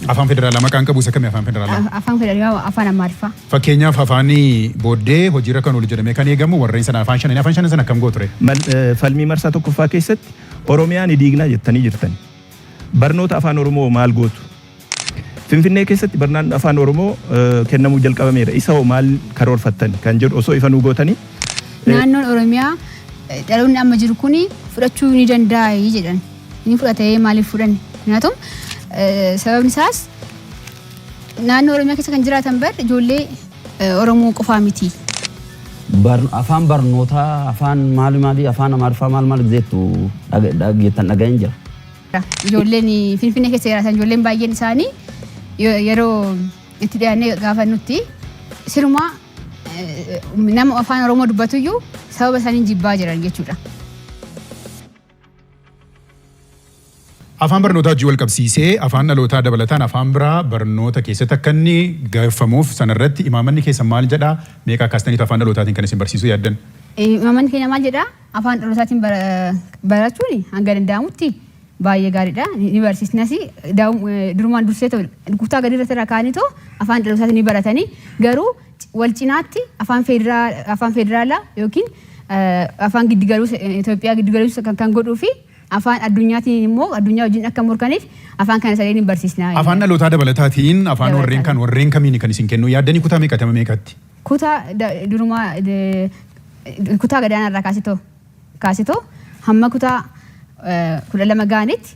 Afaan federaalaa maqaan qabu isa kami afaan federaalaa? Afaan federaalaa afaan Amaariffaa. Fakkeenyaaf afaan booddee hojiirra kan oolu jedhamee kan eegamu warreen sana afaan shanan afaan shanan sana akkam gooture? Falmii marsaa tokkoffaa keessatti Oromiyaa ni diignaa jettanii jirtan. Barnoota afaan Oromoo maal gootu? Finfinnee keessatti barnaan afaan Oromoo kennamuu jalqabameera. Isa hoo maal karoorfattan kan jedhu osoo ifa nuu gootanii? Naannoon Oromiyaa dhaloonni amma jiru kun fudhachuu ni danda'a jedhan. ni fudhate maaliif fudhanne nyaatoom sababni isaas naannoo oromiyaa keessa kan jiraatan bar ijoollee oromoo qofaa miti. Afaan barnootaa afaan maali maali afaan amaariffaa maal maal jettu dhageettan dhaga'een jira. Ijoolleen finfinnee keessa jiraatan ijoolleen baay'een isaanii yeroo itti dhiyaannee gaafannutti sirumaa nama afaan oromoo dubbatuyyuu sababa isaanii jibbaa jiran jechuudha. Afaan barnootaa wajjin walqabsiisee afaan dhalootaa dabalataan afaan biraa barnoota keessatti akka inni gaeffamuuf sana irratti imaamanni keessan maal jedhaa? Meeqa kaastaniitu afaan dhalootaatiin kan isin barsiisuu yaaddan? Imaamanni keenya maal jedhaa? Afaan dhalootaatiin barachuun hanga danda'amutti baay'ee gaariidha. Ni barsiisnas durumaan dursee kutaa gadi irratti irraa kaa'anii too afaan dhalootaatiin ni baratanii garuu wal cinaatti afaan federaa- afaan federaalaa yookiin eh, afaan giddigaluus Itoophiyaa giddigaluus kan, kan godhuu fi afaan addunyaatiin immoo addunyaa wajjin akka morkaniif afaan kana sadeen hin barsiisnaa. Afaan dhalootaa dabalataatiin afaan Dabalataan. warreen kan warreen kamiin kan isin kennu yaaddanii kutaa meeqatama meeqatti? kutaa da- durumaa de- kutaa gadaanaa irraa kaasitoo kaasitoo hamma kutaa eh, kudha lama ga'anitti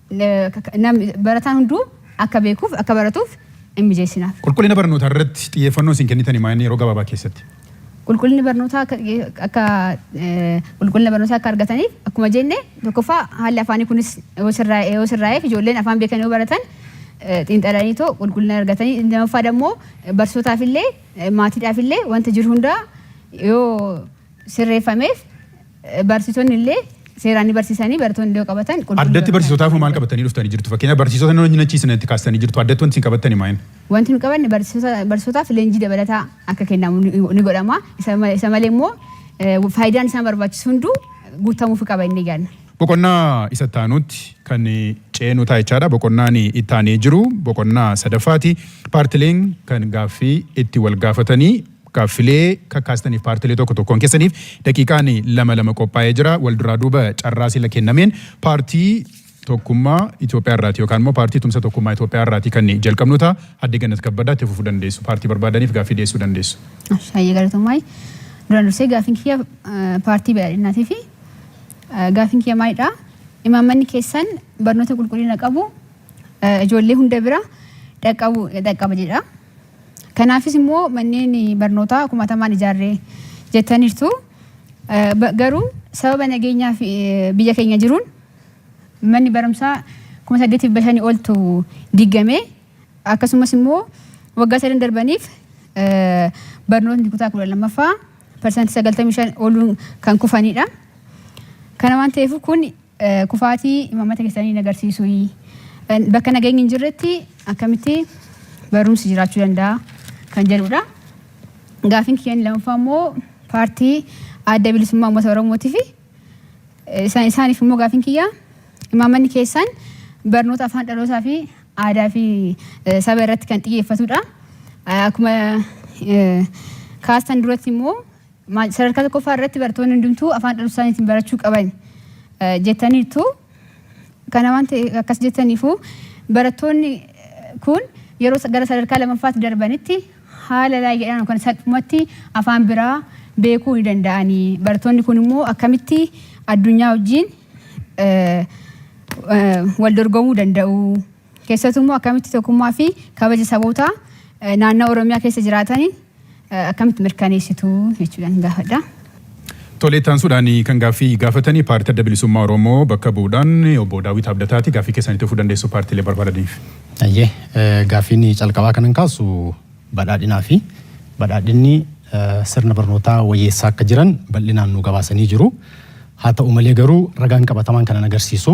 Namni, barataan hunduu akka beekuuf, akka baratuuf in mijeessinaaf. Qulqullina barnootaa irratti xiyyeeffannoo isin kennitani maa inni yeroo gabaabaa keessatti? Qulqullinni barnootaa akka xiyye, akka qulqullina barnootaa akka argataniif akkuma jenne tokkoffaa haalli afaanii kunis yoo sirraa'e, yoo sirraa'eef ijoolleen afaan beekan yoo baratan xiinxalanii too qulqullina argatanii inni lammaffaa dammoo barsiisotaaf illee maatiidhaaf illee wanta jiru hundaa yoo sirreeffameef barsiisonni illee seeraan ni barsiisanii barattoonni iddoo qabatan qulqulluu Addatti qabatanii barsiisotaaf maal qabatanii dhuftanii jirtu? Fakkeenyaaf barsiisota nama nyachiisan itti kaastanii jirtu. Addatti wanti isin qabattani maal? Wanti nu qabanne barsiisota barsiisotaaf leenjii dabalataa akka kennamu ni ni godhama. Isa ma- isa malee immoo eh, faayidaan isaan barbaachisu hunduu guutamuufi qaba inni yaadna. Boqonnaa isa itti aanutti kan ceenu ta'a jechaadha. Boqonnaan itti aanee jiru boqonnaa sadaffaati. Paartileen kan gaaffii itti wal gaafatanii Gaaffilee kakkaastaniif paartilee tokko tokkoon keessaniif daqiiqaan lama lama qophaa'ee jira. Wal duraa duuba carraa sila kennameen paartii tokkummaa Itoophiyaa irraati yookaan immoo paartii tumsa tokkummaa Itoophiyaa irraati kan jalqabnu ta'a. Adde Gannat Kabbadaa itti fufuu dandeessu. Paartii barbaadaniif gaaffii dhiyeessuu dandeessu. Hayyee galatoomaa. Duraan dursee gaaffiin kiyya paartii badhaadhinaatii fi gaaffiin kiyya maalidha? Imaammanni keessan barnoota qulqullina qabu ijoollee hunda bira dhaqqaba jedha. Kanaafis immoo manneen barnootaa kumatamaan ijaarre jettaniirtu. Garuu sababa nageenyaa fi biyya keenya jiruun manni barumsaa kuma saddeetiif bashanii oltu diigamee akkasumas immoo waggaa sadan darbaniif barnootni kutaa kudha lammaffaa parsantii sagaltamii shan oluun kan kufanidha. Kana waan ta'eef kun Kufaatii imaammata keessanii hin agarsiisuuyii? Bakka nageenyi hin jirretti akkamitti barumsi jiraachuu danda'a kan jedhudha. Gaafiin kiyyaan lammaffaa immoo paartii adda bilisummaa uummata Oromootii fi isaan isaaniif immoo gaafiin kiyyaa imaammanni keessaan barnoota afaan dhalootaa fi aadaa fi saba irratti kan xiyyeeffatudha. Akkuma kaastan duratti immoo Sadarkaa tokkoffaa irratti barattoonni hundumtuu afaan dhalootaa isaaniitiin barachuu qaban jettaniirtu. Kana waan ta'e akkas jettaniifu barattoonni kun yeroo gara sadarkaa lammaffaatti darbanitti haala laayyaadhaan yookaan salphumatti afaan biraa beekuu ni danda'anii. Barattoonni kun immoo akkamitti addunyaa wajjin wal dorgomuu danda'u? Keessattuu immoo akkamitti tokkummaa fi kabaja saboota naannoo Oromiyaa keessa jiraataniin akkamitti mirkaneessitu jechuudhaan gaafadha. Tole itti aansuudhaan kan gaaffii gaafatanii paartii adda bilisummaa Oromoo bakka bu'uudhaan obbo Daawwit Abdataati gaaffii keessan itti fufuu dandeessu paartiilee barbaadaniif. Ayyee gaaffiin calqabaa kanan kaasu badhaadhinaa fi badhaadhinni sirna barnootaa wayyeessaa akka jiran bal'inaan nu gabaasanii jiru. Haa ta'u malee garuu ragaan qabatamaan kanan agarsiisu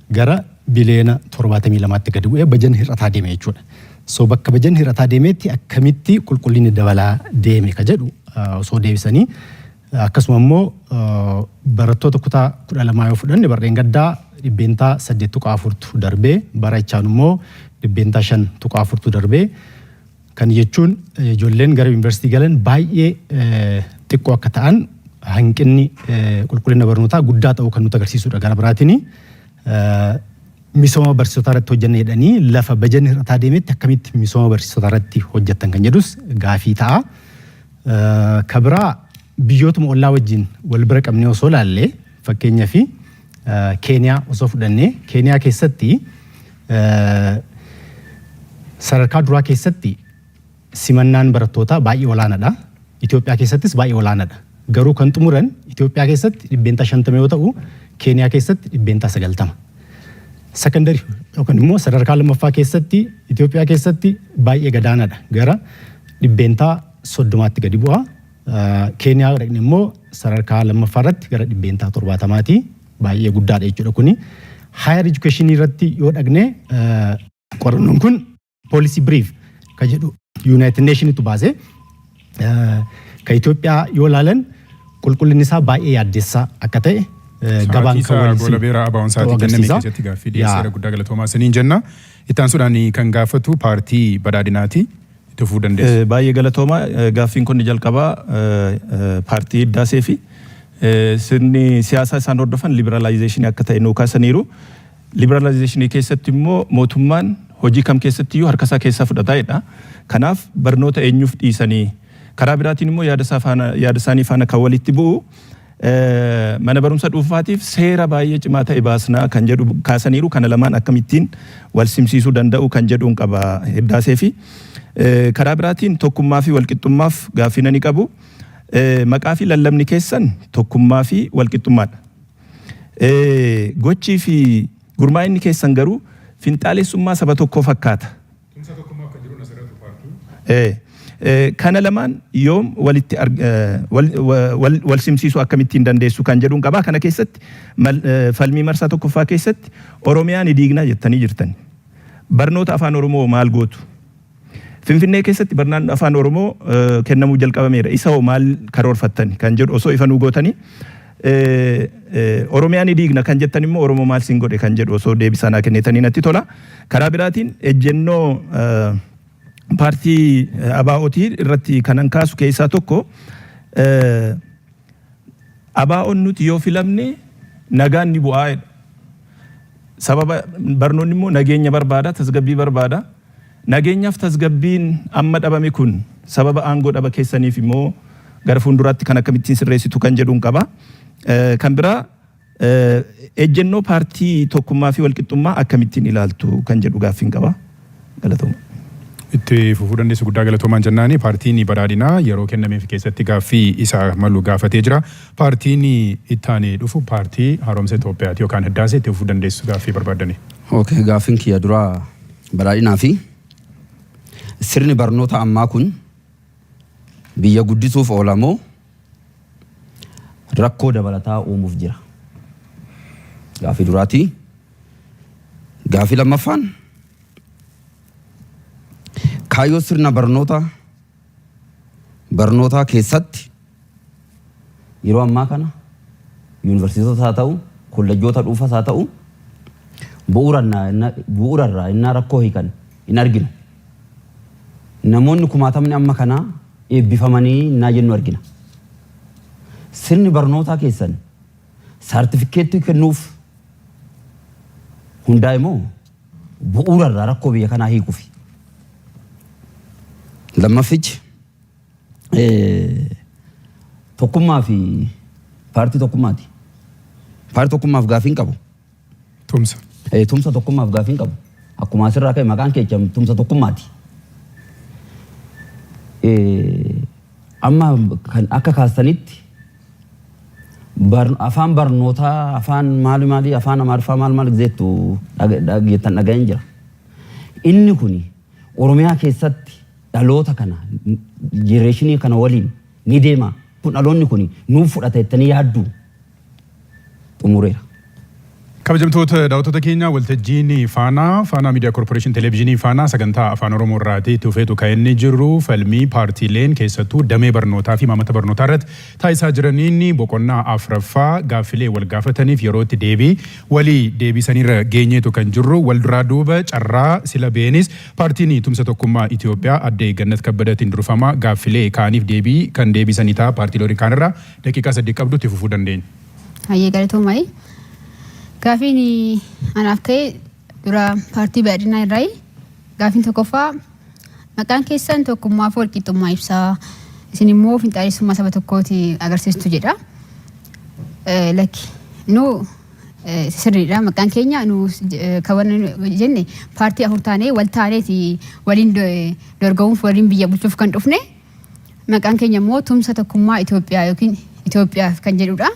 gara biliyoona 72tti gadi bu'ee bajanni hir'ataa deeme jechuudha. So bakka bajanni hir'ataa deemeetti akkamitti qulqullinni dabalaa deeme ka jedhu osoo deebisanii akkasuma immoo barattoota kutaa 12 yoo fudhanne barreen gaddaa dhibbeentaa 8.4tu darbee bara ichaan immoo dhibbeentaa 5.4tu darbee Kana jechuun ijoolleen gara yuunivarsiitii galan baay'ee xiqqoo akka ta'an hanqinni qulqullina barnootaa guddaa ta'uu kan nutti agarsiisudha. Gara biraatiin misooma barsiisotaa irratti hojjenna jedhanii lafa bajanni hir'ataa deemetti akkamitti misooma barsiisotaa irratti hojjettan kan jedhus gaafii ta'a. Ka biraa biyyootuma ollaa wajjin wal bira qabnee osoo ilaalle fakkeenyaaf Keeniyaa osoo fudhannee Keeniyaa keessatti Sadarkaa duraa keessatti simannaan barattootaa baay'ee olaanaadha. Itoophiyaa keessattis baay'ee olaanaadha. Garuu kan xumuran Itoophiyaa keessatti dhibbeentaa 50 yoo ta'u, Keeniyaa keessatti dhibbeentaa 90. Sakandari yookaan immoo sadarkaa lammaffaa keessatti Itoophiyaa keessatti baay'ee gadaanaadha. Gara dhibbeentaa 30tti gadi bu'a. Keeniyaa dhaqne immoo sadarkaa lammaffaa irratti gara dhibbeentaa 70ti. baay'ee guddaadha jechuudha kuni. Higher education irratti yoo dhagne qorannoon kun policy brief ka jedhu United Nationitu baase ka Itoophiyaa yoo ilaalan qulqullinni isaa baay'ee yaaddessaa akka ta'e gabaan kan Sa'aatii waliin goolabeera abaa'oon sa'aatii kenname agarsiisa. keessatti gaaffii Yaa. dhiyeesseera guddaa galatoomaa isiniin jenna. Itti aansuudhaan kan gaafatu paartii badhaadhinaati. itti fufuu dandeessu. Baay'ee galatooma. Gaaffiin konni jalqabaa paartii Hiddaasee fi sirni siyaasaa isaan hordofan liberalizationii akka ta'e nuu kaasaniiru. Liberalizationii keessatti immoo mootummaan hojii kam keessatti iyyuu harka isaa keessaa fudhata jedha. Kanaaf barnoota eenyuuf dhiisanii? Karaa biraatiin immoo yaada isaanii faana kan walitti bu'u Mana barumsa dhuunfaatiif seera baay'ee cimaa ta'e baasna kan jedhu kaasaniiru. Kana lamaan akkamittiin walsimsiisuu danda'u kan jedhuun qaba Hiddaaseefi. Karaa biraatiin tokkummaafi walqixxummaaf gaaffii nani qabu. Maqaafi lallabni keessan tokkummaafi walqixxummaadha. Gochiifi gurmaa'inni keessan garuu finxaalessummaa saba tokkoo fakkaata Tumsa tokkummaa akka jiru na sirrattu paarkiin. Ee. Kana lamaan yoom walitti wal simsiisuu akkamittiin dandeessu kan jedhuun qaba. Kana keessatti falmii marsaa tokkoffaa keessatti Oromiyaa ni diigna jettanii jirtani. Barnoota Afaan Oromoo hoo maal gootu? Finfinnee keessatti barnaan Afaan Oromoo kennamuu jalqabameera. Isa hoo maal karoorfattani kan jedhu osoo ifa nuu gootanii Oromiyaa ni diigna kan jettan immoo Oromoo maal siin godhe kan jedhu osoo deebisaa naa kennitanii natti tola. Karaa biraatiin ejjennoo paartii ABOT irratti kanan kaasu keessaa tokko ABOn nuti yoo filamne nagaan ni bu'aa jedha. Sababa barnoonni immoo nageenya barbaada, tasgabbii barbaada. Nageenyaf tasgabbiin amma dhabame kun sababa aangoo dhaba keessaniif moo gara fuulduraatti kan akkamittiin sirreessitu kan jedhun qaba. Kan biraa ejjennoo paartii Tokkummaa fi Walqixxummaa akkamittiin ilaaltu kan jedhu gaaffiin qaba. Galatooma. Itti fufuu dandeessu guddaa galatoomaan jennaani paartiin badhaadhinaa yeroo kennameef keessatti gaaffii isa malu gaafatee jira. Paartiin itti aanee dhufu paartii haaromsa Itoophiyaati yookaan hiddaase itti fufuu dandeessu gaaffii barbaaddanii. Okay, gaaffiin kiyya duraa Badhaadhinaa fi sirni barnoota ammaa kun biyya guddisuuf oola moo rakkoo dabalataa uumuuf jira? Gaaffii duraati. Gaaffii lammaffaan kaayyoo sirna barnoota barnootaa keessatti yeroo ammaa kana yuunivarsiitotas haa ta'u, kollejjoota dhuunfas haa ta'u bu'uura irraa innaa rakkoo hiikan hin argina. Namoonni kumaatamni amma kanaa eebbifamanii innaa jennu argina. Sirni barnootaa keessan saartifikkeettii kennuuf hundaa'e moo? bu'uura irraa rakkoo biyya kanaa hiikufi. Lammaffic tokkummaa fi paartii tokkummaati. Paartii tokkummaaf gaafii hin qabu. Tumsa. Tumsa tokkummaaf gaafii hin qabu. Akkuma asirraa ka'e maqaan keecha tumsa tokkummaati. Amma kan akka kaastanitti Afaan barnootaa afaan maali maalii afaan amaariffaa maal maal jettu jettan dhaga'een jira. Inni kuni Oromiyaa keessatti dhaloota kana jenereeshinii kana waliin ni deema kun dhaloonni kuni nuuf fudhata jettanii yaadduu? Xumureera. Kabajamtoota daawwattoota keenya waltajjiin Faanaa, Faanaa Miidiyaa Korporeeshin Televizyinii Faanaa sagantaa Afaan Oromoo irraati itti fufeetu kan inni jiru falmii paartiileen keessattuu damee barnootaa fi imaammata barnootaa irratti taasisaa jiraniin boqonnaa afraffaa gaaffilee wal gaafataniif yerootti deebii walii deebiisaniirra geenyeetu kan jirru wal duraa duuba carraa sila beenis paartiin tumsa tokkummaa Itoophiyaa addee Gannat Kabbadatiin durfamaa gaaffilee kaaniif deebii kan deebiisanii ta'a paartiilee waliin kaanirraa daqiiqaa saddeet qabdu itti fufuu dandeenya. Hayyee galatoomayi. Gaafiin anaaf ka'e dura paartii badhaadhinaa irraayi. Gaafiin tokkoffaa maqaan keessan tokkummaa fi walqixxummaa ibsaa isin immoo finxaalessummaa saba tokkooti agarsiistu jedha. Eh, Lakki nu eh, sirriidha maqaan keenya nu eh, kan wanni nu jenne paartii afur taanee wal taaneeti waliin do- eh, dorgomuuf waliin biyya bulchuuf kan dhufne. Maqaan keenya immoo tumsa tokkummaa Itoophiyaa yookiin Itoophiyaaf kan jedhudha.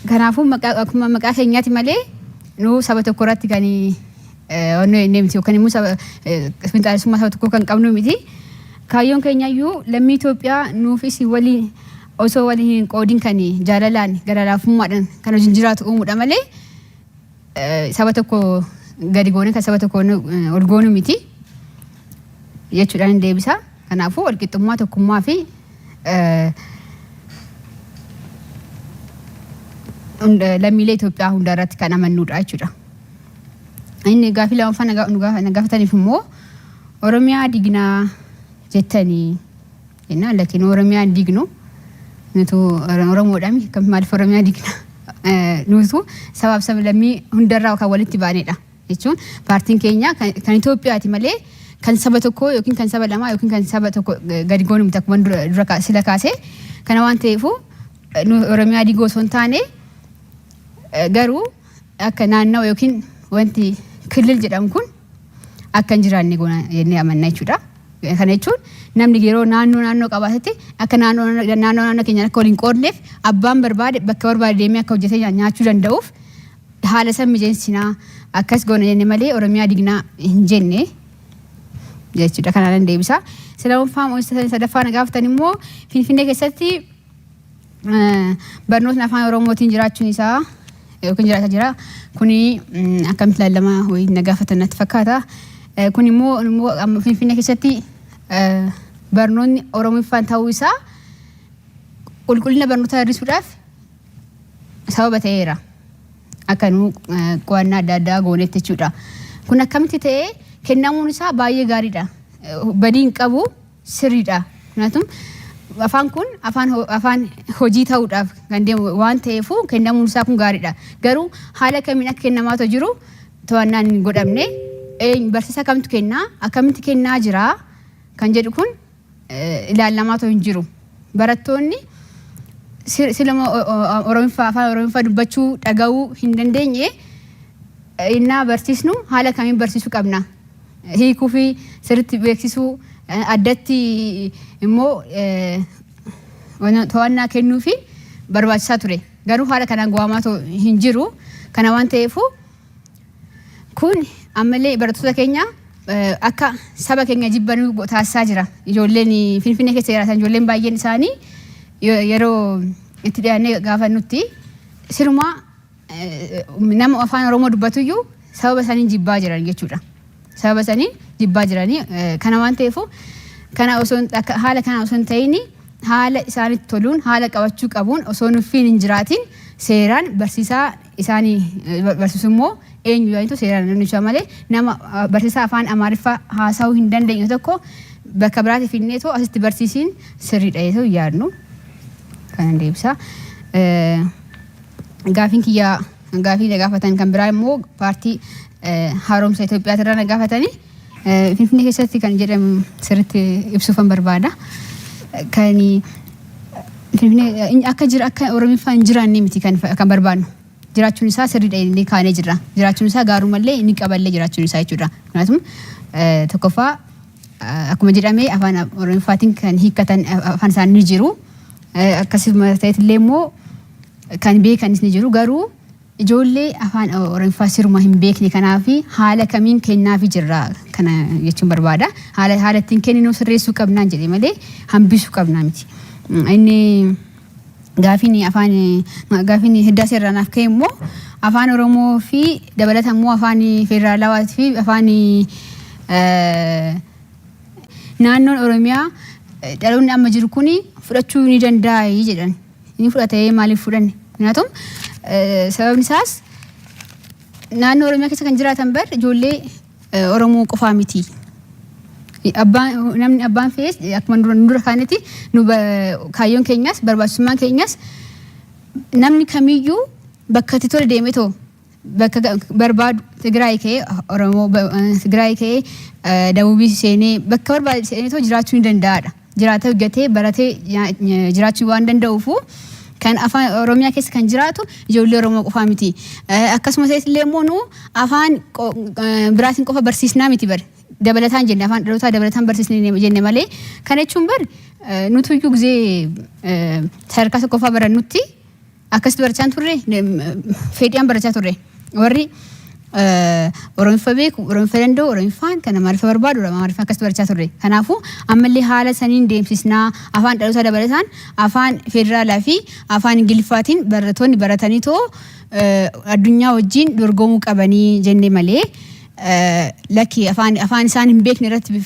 Kanaafuu maqaa akkuma maqaa keenyaati malee nuu saba tokko irratti kan onnee inni miti yookaan immoo saba finxaalessummaa saba tokkoo kan qabnu miti. Kaayyoon keenya iyyuu lammii Itoophiyaa nuufis waliin osoo waliin hin qoodin kan jaalalaan gara laafummaadhaan kan hojiin jiraatu uumuudha malee saba tokko gadi goone kan saba tokko ol goonu miti jechuudhaan hin deebisa. Kanaafuu walqixxummaa tokkummaa fi lammiilee Itoophiyaa hundaa irratti kan amannuudha jechuudha. Inni gaafii lammaffaa na gaafataniif immoo Oromiyaa dignaa jettanii Jennaan lakki nu Oromiyaa hin diignu. Nutu Oromoodhaami akkamitti maaliif Oromiyaa diigna? Nutu sabaaf sablammii hundarraa kan walitti baanedha. Jechuun paartiin keenya kan Itoophiyaati malee kan saba tokkoo yookiin kan saba lamaa yookiin kan saba tokko gadi goonu miti akkuma dura sila kaasee kana waan ta'eefuu nu Oromiyaa diiguu osoo hin taane garuu akka naannawa yookiin wanti kilil jedhamu kun akka hin jiraanne goona jennee amanna jechuudha. Kana jechuun namni yeroo naannoo naannoo qabaatetti akka naannoo naannoo naannoo naannoo keenyaan akka waliin qoodneef abbaan barbaade bakka barbaade deemee akka hojjetee nyaa- nyaachuu danda'uuf haala san mijeessinaa akkas goona jenne malee Oromiyaa dignaa hin jenne jechuudha. Kanaan deebisa. Sadaffaa sadaffaa na gaafatan immoo Finfinnee keessatti Barnootni afaan Oromootiin jiraachuun isaa yookiin jiraata jira. Kuni akkamitti ilaallama wayii na gaafatan natti fakkaata. Kun immoo immoo amma Finfinnee keessatti barnoonni Oromiffaan ta'uu isaa qulqullina barnootaa hir'isuudhaaf sababa ta'eera. Akka nuu qo'annaa adda addaa goonetti jechuudha. Kun akkamitti ta'ee kennamuun isaa baay'ee gaariidha. Badii hin qabu. sirriidha. Kanaafuu afaan kun afaan ho- afaan hojii ta'uudhaaf kan deemu waan ta'eefuu kennamuun isaa kun gaariidha. Garuu haala kamiin akka kennamaa otoo jiru to'annaan hin godhamne eenyu- barsiisa kamtu kennaa akkamitti kennaa jira kan jedhu kun eh, ilaalamaa otoo hin jiru. Barattoonni si- siluma o- o- Oromiffaa afaan Oromiffaa dubbachuu dhaga'uu hin dandeenye eh, innaa barsiisnu haala kamiin barsiisuu qabna. hiikuu fi sirriitti beeksisuu, addatti immoo to'annaa kennuufiin barbaachisaa ture. Garuu haala kanaan go'aamaa ta'u hin jiru. Kana waan ta'eefuu kun ammallee barattoota keenya akka saba keenya jibbanuu taasisaa jira. Ijoolleen Finfinnee keessa jiraatan ijoolleen baay'een isaanii yeroo itti dhiyaannee gaafannutti sirumaa nama afaan Oromoo dubbatuyyuu sababa saniin jibbaa jiran jechuudha. Sababa saniin jibbaa jiranii kana waan ta'eefu kana osoo haala kana osoo hin ta'in haala isaanitti toluun haala qabachuu qabuun osoo nuffiin hin jiraatin seeraan barsiisaa isaanii barsiisu immoo eenyu jedhaniitu seeraan namnicha malee nama barsiisaa afaan Amaariffaa haasa'uu hin dandeenye tokko bakka biraatti finnee too asitti barsiisiin sirriidha jedhee yaadnu kanan deebisaa. Gaafiin kiyya gaafii na gaafatan kan biraa immoo paartii haaromsa Itoophiyaati irraa na gaafatanii Finfinnee keessatti kan jedhamu sirriitti ibsuufan barbaada. Kan Finfinnee akka jira akka Oromiffaa hin jiraanne miti kan kan barbaadnu. Jiraachuun isaa sirriidha inni kaanee jirra. Jiraachuun isaa gaarumallee inni qaballee jiraachuun isaa jechuudha. Kanaafuu tokkoffaa akkuma jedhame afaan Oromiffaatiin kan hiikkatan afaan isaanii ni jiru. Akkasuma ta'etillee immoo kan beekanis ni jiru garuu ijoollee afaan Oromiffaa sirumaa hin beekne kanaafi haala kamiin kennaafi jirra kana jechuun barbaada. Haala haala ittiin kenninuu sirreessuu qabnaan jedhe malee hambisuu qabnaa miti. Inni gaafiin afaan gaafiin hiddaasee irraa naaf ka'e immoo afaan Oromoo fi dabalata immoo afaan federaalawaa fi afaan naannoon Oromiyaa dhaloonni amma jiru kun fudhachuu ni danda'a jedhan. ni fudhata ee maaliif fudhanne minaatum sababni isaas naannoo oromiyaa keessa kan jiraatan bar ijoollee eh, oromoo qofaa miti abbaan namni abbaan fe'es akkuma dura dura kaanitti nu ba- kaayyoon keenyas barbaachisummaan keenyas namni kamiyyuu bakka itti tole deemee too bakka ga- barbaadu Tigraay ka'ee Oromoo ba- eh, Tigraay ka'ee eh, Dabuubii seenee bakka barbaade seenee too jiraachuu ni danda'aadha. Jiraatee hojjetee baratee nya- nya- jiraachuu waan danda'uufu kan afaan Oromiyaa keessa kan jiraatu ijoollee Oromoo qofaa miti. Eh, Akkasumas illee immoo nu afaan qo- eh, biraatiin qofa barsiisnaa miti bari. Dabalataan jenne afaan dhalootaa dabalataan barsiisnee jenne malee kana jechuun bari eh, nutuyyuu gizee eh, sadarkaa tokkoffaa barannutti Akkasitti barachaa hin turre fedhiidhaan barachaa turre. Warri Oromiffa beeku, Oromiffa danda'u, Oromiffaan kan Amaariffa barbaadu, Amaariffa akkasitti barachaa turre. Kanaafuu ammallee haala saniin deemsisnaa afaan dhalootaa dabalataan afaan federaalaa fi afaan Ingiliffaatiin barattoonni baratanii too addunyaa wajjin dorgomuu qabanii jenne malee lakki afaan isaan hin beekne irratti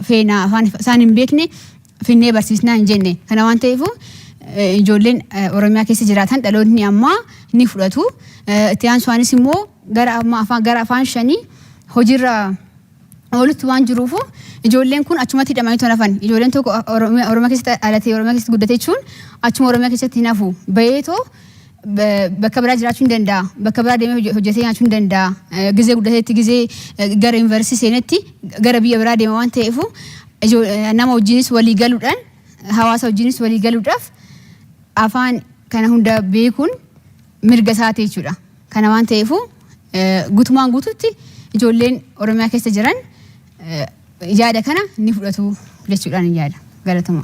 feenaa afaan isaan hin beekne finnee barsiisnaa hin jenne. Kana waan ta'eefuu eh, ijoolleen eh, Oromiyaa keessa jiraatan dhaloonni ammaa ni fudhatu. Eh, Itti aansuunis immoo gara amma afaan gara afaan shanii hojiirra oolutti waan jiruufu ijoolleen kun achumatti hidhamanii tola hafan. Ijoolleen tokko Oromiyaa Oromiyaa keessatti dhalatee Oromiyaa keessatti guddate jechuun achuma Oromiyaa keessatti hin hafu. Bayeetoo ba- bakka biraa jiraachuu hin danda'a. Bakka biraa deemee hojje- hojjetee nyaachuu hin danda'a. Eh, Gizee guddateetti gizee eh, gara yuunivarsiitii seenetti gara biyya biraa deema waan ta'eefu Nama wajjinis walii galuudhaan hawaasa wajjinis walii galuudhaaf afaan kana hunda beekuun mirga isaati jechuudha. Kana waan ta'eefuu gutumaan guututti ijoolleen Oromiyaa keessa jiran yaada kana ni fudhatu jechuudhaan yaada. Galatoma.